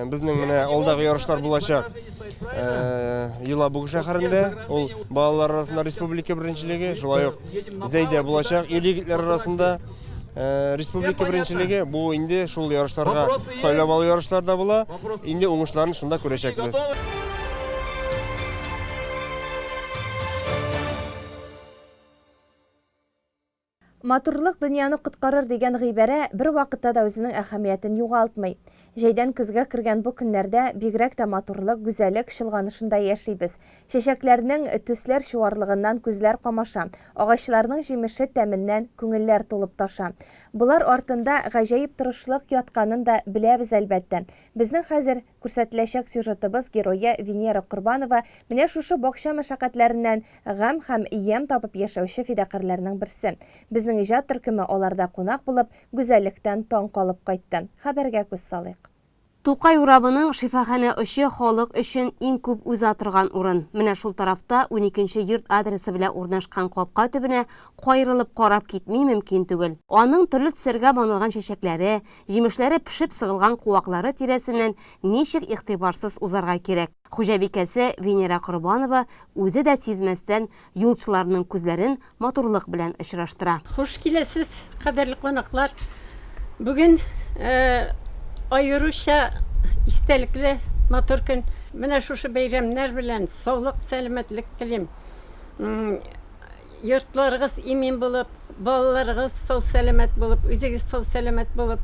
безнең менә алдагы ярышлар булачак елабуг шәһәрендә ул балалар арасында республика беренчелеге шулай ук зәйдә булачак ир егетләр арасында Э, республика беренчелеге бу инде шул ярышларга сайлап алу ярышларда була. Инде уңышларын шунда күрәчәкбез. Матурлык дөньяны коткарыр дигән гыйбарә бер вакытта да үзенең әһәмиятен югалтмый. Җәйдән көзгә кергән бу көннәрдә бигрәк тә матурлык, гүзәлек чолганышында яшибез. Чәчәкләрнең төсләр чуарлыгыннан күзләр камаша, агачларның җимеше тәменнән күңелләр тулып таша. Болар артында гаҗәеп тырышлык ятканын да беләбез, әлбәттә. Безнең хәзер күрсәтеләчәк сюжетыбыз герое Венера Корбанова менә шушы бакча мәшәкатьләреннән гамь һәм ямь табып яшәүче фидакарьләрнең берсе. Безнең иҗат төркеме аларда кунак булып, Гүзәллектән таң калып кайтты. Хәбәргә күз салыйк. Тукай урамының шифаханә очы халык өчен иң күп уза торган урын. Менә шул тарафта, уникенче йорт адресы белән урнашкан капка төбенә каерылып карап китми мөмкин түгел. Аның төрле төсләргә манылган чәчәкләре, җимешләре пешеп сыгылган куаклары тирәсеннән ничек игътибарсыз узарга кирәк? Хуҗабикәсе Венера Корбанова үзе дә сизмәстән юлчыларның күзләрен матурлык белән очраштыра. Хуш киләсез, кадерле кунаклар! Бүген аеруча истәлекле, матур көн. Менә шушы бәйрәмнәр белән саулык, сәламәтлек телим. Йортларыгыз имин булып, балаларыгыз сау-сәламәт булып, үзегез сау-сәламәт булып,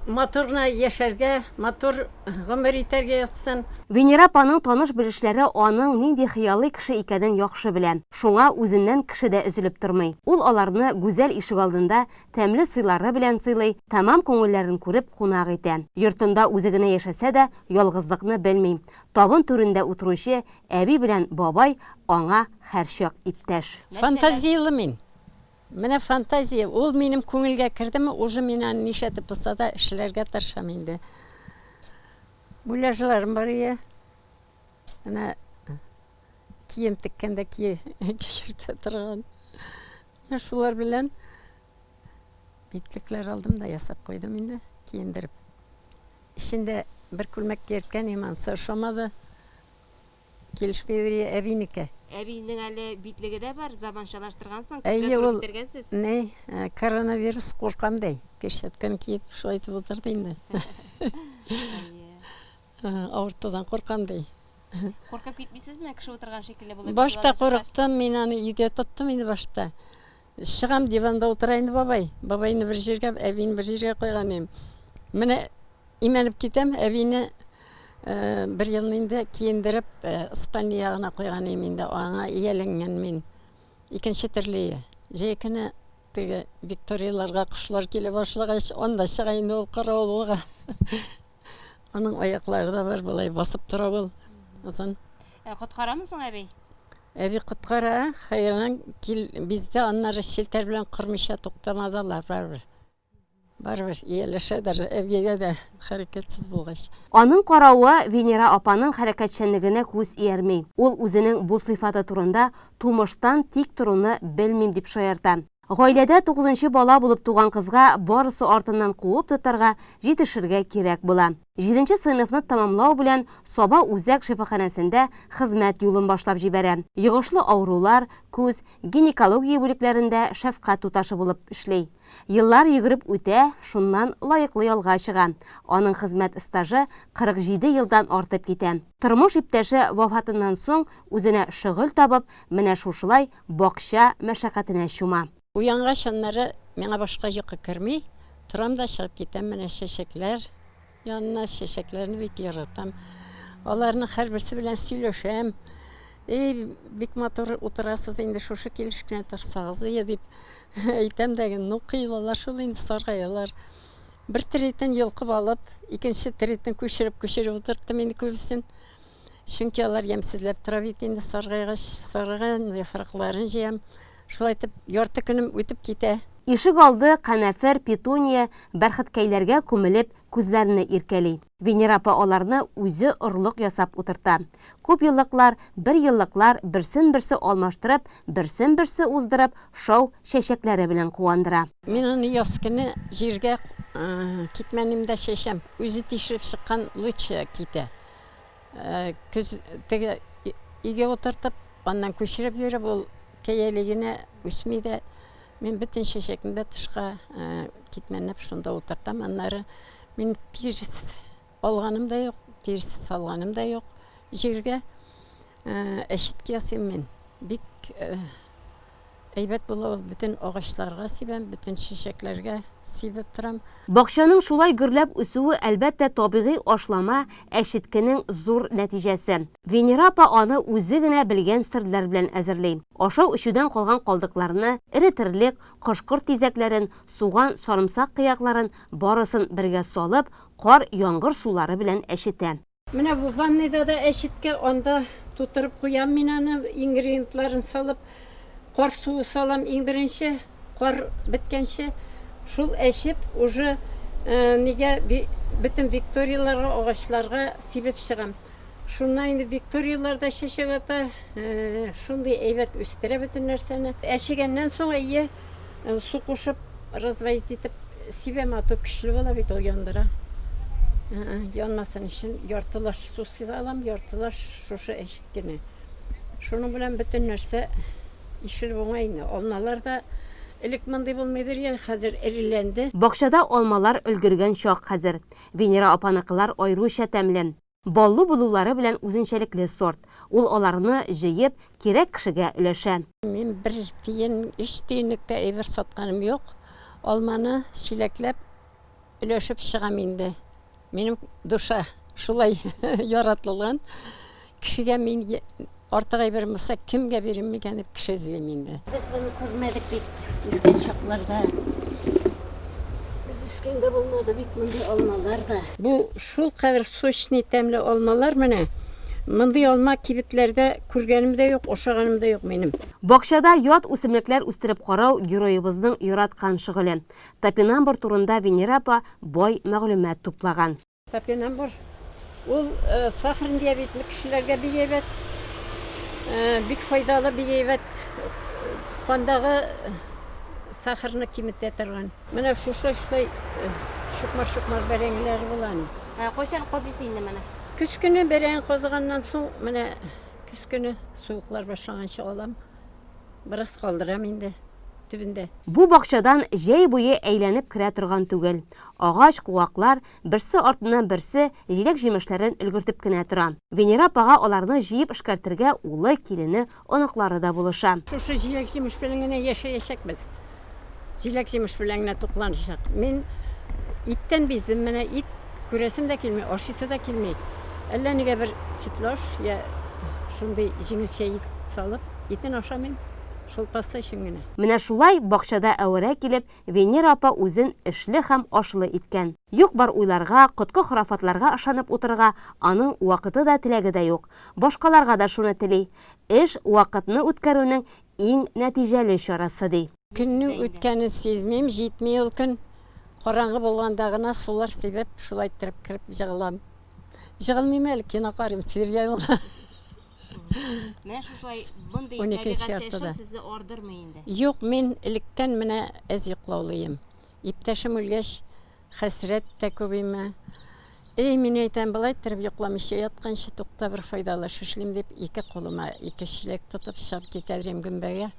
матур гына яшәргә, матур гомер итәргә язсын! Венера апаның таныш-белешләре аның нинди хыялый кеше икәнен яхшы белә, шуңа үзеннән кеше дә өзелеп тормый. Ул аларны гүзәл ишегалдында тәмле сыйлары белән сыйлый, тәмам күңелләрен күреп кунак итә. Йортында үзе генә яшәсә дә, ялгызлыкны белми. Табын түрендә утыручы, Әби белән бабай аңа һәрчак иптәш. Фантазияле мин. Менә фантазия, ул минем күңелгә кердеме, уже мин аны ничәтеп булса да эшләргә тырышам инде. Муляжларым бар ие. Менә кием теккәндә ки киертә торган. Менә шулар белән битлекләр алдым да ясап куйдым инде, киендереп. Эчендә бер күлмәк киерткән иман, ошамады. Килешми бери әбинеке. Әбинең әле битлеге дә бар, заманчалаштыргансың, күпкә туры китергәнсез. Әйе, ул ни, коронавирус куркам ди, перчатканы киеп шулай итеп утырды инде. Авыртудан куркам ди. Куркып китмисезме, кеше утырган шикелле булып? Башта курыктым, мин аны өйдә тоттым инде башта. Чыгам, диванда утыра инде бабай. Бабайны бер җиргә, әбине бер җиргә куйган идем. Менә имәнеп китәм, әбине бер елны инде киендереп, Испания ягына куйган идем инде, аңа ияләнгән мин. Икенче төрле ия. Җәй көне теге Викторияләргә кошлар килә башлагач, анда чыга инде ул каравылга. Аның аяклары да бар, болай басып тора ул. Озын. Ә коткарамы соң әби? Әби коткара, хәерлән кил бездә аннары челтәр белән кырмыйча туктамады алар барыбер. Барыбер ияләшә даже әбигә дә хәрәкәтсез булгач. Аның каравы Венера апаның хәрәкәтчәнлегенә күз иярми. Ул үзенең бу сыйфаты турында тумыштан тик торуны белмим дип шаярта. Гаиләдә тугызынчы бала булып туган кызга барысы артыннан куып тотарга, җитешергә кирәк була. Җиденче сыйныфны тәмамлау белән Саба үзәк шифаханәсендә хезмәт юлын башлап җибәрә, йогышлы авырулар, күз, гинекология бүлекләрендә шәфкать туташы булып эшли. Еллар йөгереп үтә, шуннан лаеклы ялга чыга. Аның хезмәт стажы 47 елдан артып китә. Тормыш иптәше вафатыннан соң үзенә шөгыль табып, менә шушылай бакча мәшәкатенә чума. Уянгач аннары миңа башка йокы керми, торам да чыгып китәм менә чәчәкләр янына, чәчәкләрне бик яратам. Аларның һәрберсе белән сөйләшәм. Эй, бик матур утырасыз, инде шушы килеш кенә торсагыз ие, дип әйтәм дә, ну, кыелалар шул инде, саргаялар. Бер тиретен йолкып алып, икенче тиретен күчереп-күчереп утырттым инде күбесен. Чөнки алар ямьсезләп тора бит инде саргайгач, саргайган яфракларын җыям. Шулай итеп, ярты көнем үтеп китә. Ишек алды канәфер, петуния, бәрхеткәйләргә күмелеп, күзләрне иркәли. Венера апа аларны үзе орлык ясап утырта. Күпьеллыклар, берьеллыклар берсен-берсе алмаштырып, берсен-берсе уздырып, шау чәчәкләре белән куандыра. Мин аны яз көне җиргә китмәнем дә чәчәм. Үзе тишелеп чыккан лучы китә. Көз теге иге утыртып, аннан күчереп йөреп, ул кәяли генә үсми дә. Мин бөтен чәчәкне дә тышка китмәнеп шунда утыртам. Аннары мин тирс алганым да юк, тирс салганым да юк. Җиргә әчетке ясыйм мин. Бик Әйбәт була ул, бөтен агачларга сибәм, бөтен чәчәкләргә сибеп торам. Бакчаның шулай гөрләп үсүе, әлбәттә, табигый ашлама, әчеткенең зур нәтиҗәсе. Венера апа аны үзе генә белгән серләр белән әзерли. Ашау-эчүдән калган калдыкларны, эре терлек, кош-корт тизәкләрен, суган, сарымсак кыякларын, барысын бергә салып, кар, яңгыр сулары белән әчетә. Менә бу ванныйда да әчеткә, анда тутырып куям мин аны, ингредиентларын салып, кар суы салам иң беренче, кар беткәнче. Шул әчеп, уже э, нигә бөтен викторияларга, агачларга сибеп чыгам. Шуннан инде викториялар да чәчәк ата, э, шундый әйбәт үстерә бөтен нәрсәне. Әчегәннән соң әйе, э, су кушып, разводить итеп сибәм ату көчле була бит ул яндыра. Янмасын өчен яртылаш су сибалам, яртылаш шушы әчет кенә. Шуның белән бөтен нәрсә ишелеп уңай инде. Алмалар да элек мондый булмыйдыр я, хәзер эреләнде. Бакчада алмалар өлгергән чак хәзер. Венера апаныкылар аеруча тәмле. Баллы булулары белән үзенчәлекле сорт. Ул аларны, җыеп, кирәк кешегә өләшә. Мин бер тиен, өч тиенлеккә әйбер сатканым юк. Алманы чиләкләп өләшеп чыгам инде. Минем душа шулай яратылган. Кешегә мин Артык әйбер булса, кемгә бирим микән дип кеше эзлим инде. Без моны күрмәдек бит үскән чакларда. Без үскәндә булмады бит мондый алмалар да. Бу шул кадәр сочный, тәмле алмалар менә. Мондый алма кибетләрдә күргәнем дә юк, ашаганым да юк минем. Бакчада ят үсемлекләр үстереп карау героебызның яраткан шөгыле. Топинамбур турында Венера апа бай мәгълүмат туплаган. Топинамбур ул сахарный диабетлы кешеләргә бик әйбәт, бик файдалы, бик әйбәт кандагы сахарны киметә торган. Менә шушы шулай чукмар-чукмар бәрәңгеләре була аны. Ә кайчан казыйсы инде моны? Көз көне бәрәң казыганнан соң, менә көз көне суыклар башланганчы алам. Бераз калдырам инде төбендә. Бу бакчадан җәй буе әйләнеп керә торган түгел. Агач, куаклар, берсе артыннан берсе җиләк-җимешләрен өлгертеп кенә тора. Венера апага аларны җыеп эшкәртергә улы, килене, оныклары да булыша. Шушы җиләк-җимеш белән генә яшәячәкбез. Җиләк-җимеш белән генә тукланачак. Мин иттән биздем, менә ит күрәсем дә килми, ашыйсы да килми. Әллә нигә бер сөтлаш я шундый җиңелчә ит салып, итен ашамыйм, шул паста өчен генә. Менә шулай бакчада әвәрә килеп, Венера апа үзен эшле һәм ашлы иткән. Юк-бар уйларга, коткы-хорафатларга ышанып утырырга аның вакыты да, теләге дә юк. Башкаларга да шуны тели. Эш, вакытны үткәрүнең иң нәтиҗәле чарасы, ди. Көннең үткәнен сизмим, җитми ул көн. Караңгы булганда гына сулар сибеп, шулай иттереп кереп җыгылам. Җыгылмыйм әле, кино карыйм, сериаллар. Менә шушылай мондый Уникенче табигатьтә яртыда. яшәү сезне ардырмый инде. Юк, мин электән менә әз йоклаулыйм. Иптәшем үлгәч, хәсрәт тә күбими. Эй, мин әйтәм, болай иттереп йокламыйча ятканчы, тукта, бер файдалыш эшлим, дип, ике кулыма ике чиләк тотып, чыгып китәдерем гөмбәгә.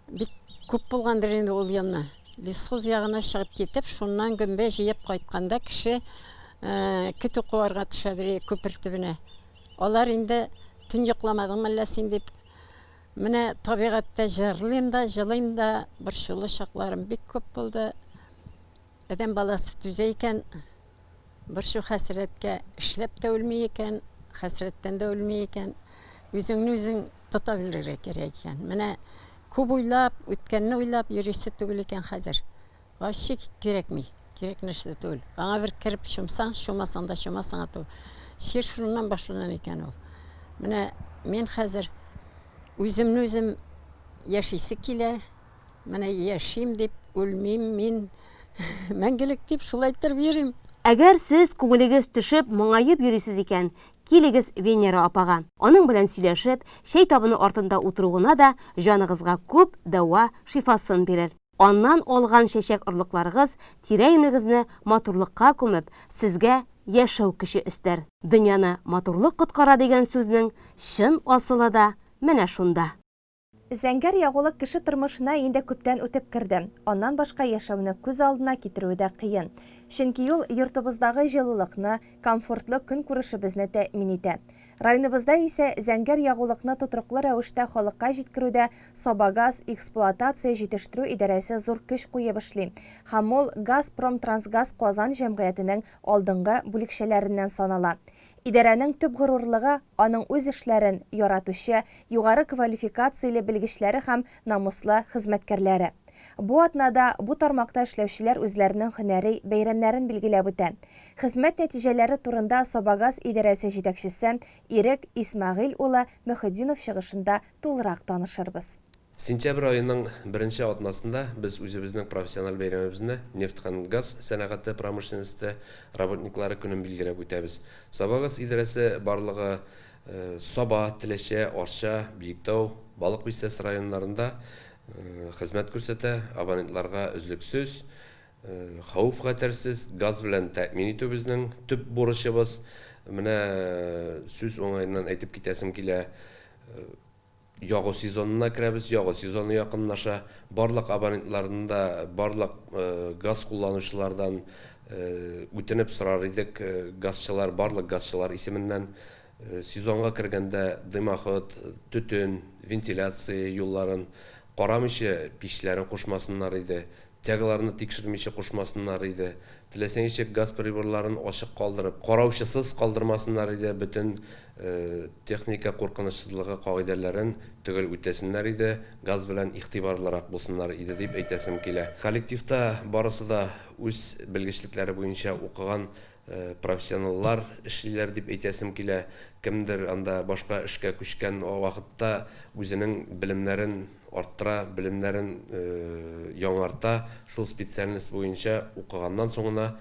Бик күп булгандыр инде ул елны. Лесхоз ягына чыгып китеп, шуннан гөмбә җыеп кайтканда, кеше көтү куарга төшәдер күпер төбенә. Алар инде, Төн йокламадыңмы әллә син? дип, Менә табигатьтә җырлыйм да, җылыйм да, борчулы чакларым бик күп булды. Адәм баласы түзә икән, борчу-хәсрәткә, эшләп тә үлми икән, хәсрәттән дә үлми икән. Үзеңне үзең тота белергә кирәк икән. Менә күп уйлап, үткәнне уйлап йөрисе түгел икән хәзер. Вообще кирәкми, кирәк нәрсә түгел. Аңа бер кереп чумсаң, чумасаң да чума саңа тү. Чир шуннан башлана икән ул. Менә мин хәзер үземне үзем яшисе килә. Менә яшим дип үлмим мин. Мәңгелек дип шулай торып йөрим. Әгәр сез күңелегез төшеп, моңаеп йөрисез икән, килегез Венера апага. Аның белән сөйләшеп, чәй табыны артында утыру гына да җаныгызга күп дәва шифасын бирер. Аннан алган чәчәк орлыкларыгыз тирә-юнегезне матурлыкка күмеп, сезгә яшәү көче өстәр. Дөньяны матурлык коткара дигән сүзнең чын асылы да менә шунда. Зәңгәр ягулык кеше тормышына инде күптән үтеп керде. Аннан башка яшәүне күз алдына китерүе дә кыен. Чөнки ул йортыбыздагы җылылыкны, комфортлы көнкүрешебезне тәэмин итә. Районыбызда исә зәңгәр ягулыкны тотрыклы рәвештә халыкка җиткерүдә Сабагаз эксплуатация җитештерү идарәсе зур көч куеп эшли һәм ул Газпромтрансгаз Казан җәмгыятенең алдынгы бүлекчәләреннән санала. Идарәнең төп горурлыгы, аның үз эшләрен яратучы, югары квалификацияле белгечләре һәм намуслы хезмәткәрләре. Бу атнада бу тармакта эшләүчеләр үзләренең һөнәри бәйрәмнәрен билгеләп үтә. Хезмәт нәтиҗәләре турында Сабагаз идарәсе җитәкчесе Ирек Исмәгыйль улы Мөхетдинов чыгышында тулырак танышырбыз. Сентябрь аеның беренче атнасында без үзебезнең профессиональ бәйрәмебезне, нефть һәм газ сәнәгате промышленносте работниклары көнен билгеләп үтәбез. Сабагаз идарәсе барлыгы Саба, Теләче, Арча, Биектау, Балык Бистәсе районнарында хезмәт күрсәтә, абонентларга өзлексез, хәвеф-хәтәрсез газ белән тәэмин итү безнең төп бурычыбыз. Менә сүз уңаеннан әйтеп китәсем килә. Ягу сезонына керәбез, ягу сезоны якынлаша. Барлык абонентлардан да, барлык газ кулланучылардан үтенеп сорар идек, газчылар, барлык газчылар исеменнән, сезонга кергәндә дымоход, төтен, вентиляция юлларын карамыйча, пичләрен кушмасыннар иде, Тягаларны тикшермичә кушмасыннар иде. Теләсә ничек газ приборларын ачык калдырып, караучысыз калдырмасыннар иде, бөтен техника куркынычсызлыгы кагыйдәләрен төгәл үтәсеннәр иде, газ белән игътибарлырак булсыннар иде дип әйтәсем килә. Коллективта барысы да үз белгечлекләре буенча укыган профессионаллар эшлиләр дип әйтәсем килә. Кемдер анда башка эшкә күчкән вакытта үзенең белемнәрен арттыра, белемнәрен яңарта, шул специальность буенча укыганнан соңына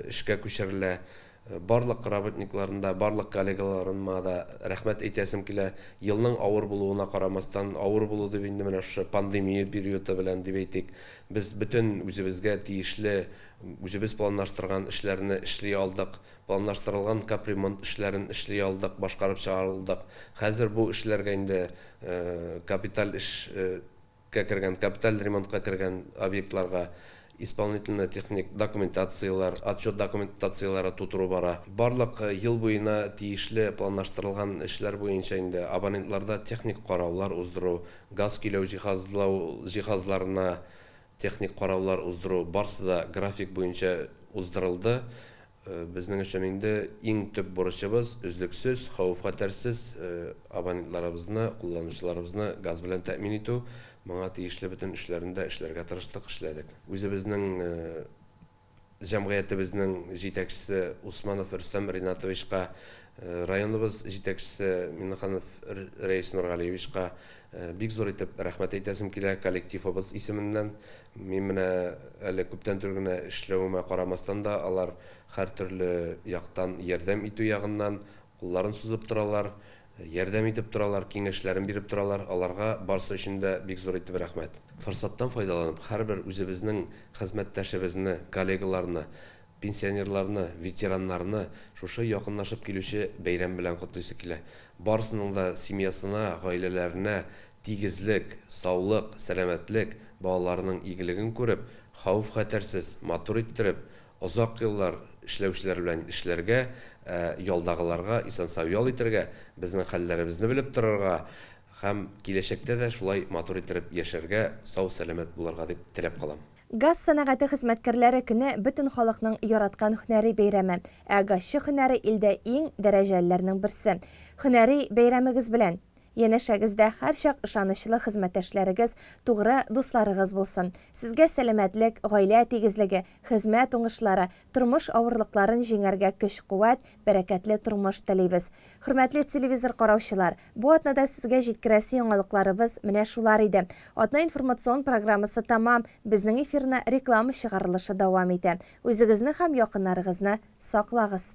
эшкә күчерелә. Барлык работникларны да, барлык коллегаларыма да рәхмәт әйтәсем килә. Елның авыр булуына карамастан, авыр булу дип инде менә шушы пандемия периоды белән дип әйтик, без бөтен үзебезгә тиешле, үзебез планлаштырган эшләрне эшли алдык. Планлаштырылган капремонт эшләрен эшли алдык, башкарып чыгара алдык. Хәзер бу эшләргә инде капиталь эш кә кергән, капиталь ремонтка кергән объектларга исполнительно техник документацияләр, отчет документацияләре тутыру бара. Барлык ел буена тиешле планлаштырылган эшләр буенча инде абонентларда техник караулар уздыру, газ көйләү җиһазлау җиһазларына Техник караулар уздыру барсы да график буенча уздырылды. Безнең өчен инде иң төп бурычыбыз, өзлексез, хәвеф-хәтәрсез абонентларыбызны, кулланучыларыбызны газ белән тәэмин итү. Моңа тиешле бөтен эшләрне дә эшләргә тырыштык, эшләдек. Үзебезнең Җәмгыятебезнең җитәкчесе Усманов Рөстәм Ринатовичка, районыбыз җитәкчесе Миннеханов Рәис Нургалиевичка бик зур итеп рәхмәт әйтәсем килә, коллективыбыз исеменнән. Мин менә әле күптән түгел генә эшләвемә карамастан да, алар һәртөрле яктан ярдәм итү ягыннан, Кулларын сузып торалар, ярдәм итеп торалар, киңәшләрен биреп торалар, аларга барсы өчен дә бик зур итеп рәхмәт. Форсаттан файдаланып, һәрбер үзебезнең хезмәттәшебезне, коллегаларны, пенсионерларны, ветераннарны шушы якынлашып килүче бәйрәм белән котлыйсы килә. Барысының да семьясына, гаиләләренә тигезлек, саулык, сәламәтлек, балаларының игелеген күреп, хәвеф-хәтәрсез, матур иттереп, Озак еллар эшләүчеләр белән эшләргә, ә ялдагыларга исән-сау ял итәргә, безнең хәлләребезне белеп торырга һәм киләчәктә дә шулай матур иттереп яшәргә, сау-сәламәт булырга дип теләп калам. Газ сәнәгате хезмәткәрләре көне бөтен халыкның яраткан һөнәри бәйрәме, ә газчы һөнәре илдә иң дәрәҗәлеләрнең берсе. Һөнәри бәйрәмегез белән! Янәшәгездә һәрчак ышанычлы хезмәттәшләрегез, тугры дусларыгыз булсын. Сезгә сәламәтлек, гаилә тигезлеге, хезмәт уңышлары, тормыш авырлыкларын җиңәргә көч-куәт, бәрәкәтле тормыш телибез. Хөрмәтле телевизор караучылар, бу атнада сезгә җиткерәсе яңалыкларыбыз менә шулар иде. Атна информацион программасы тәмам, безнең эфирны реклама чыгарылышы дәвам итә. Үзегезне һәм якыннарыгызны саклагыз!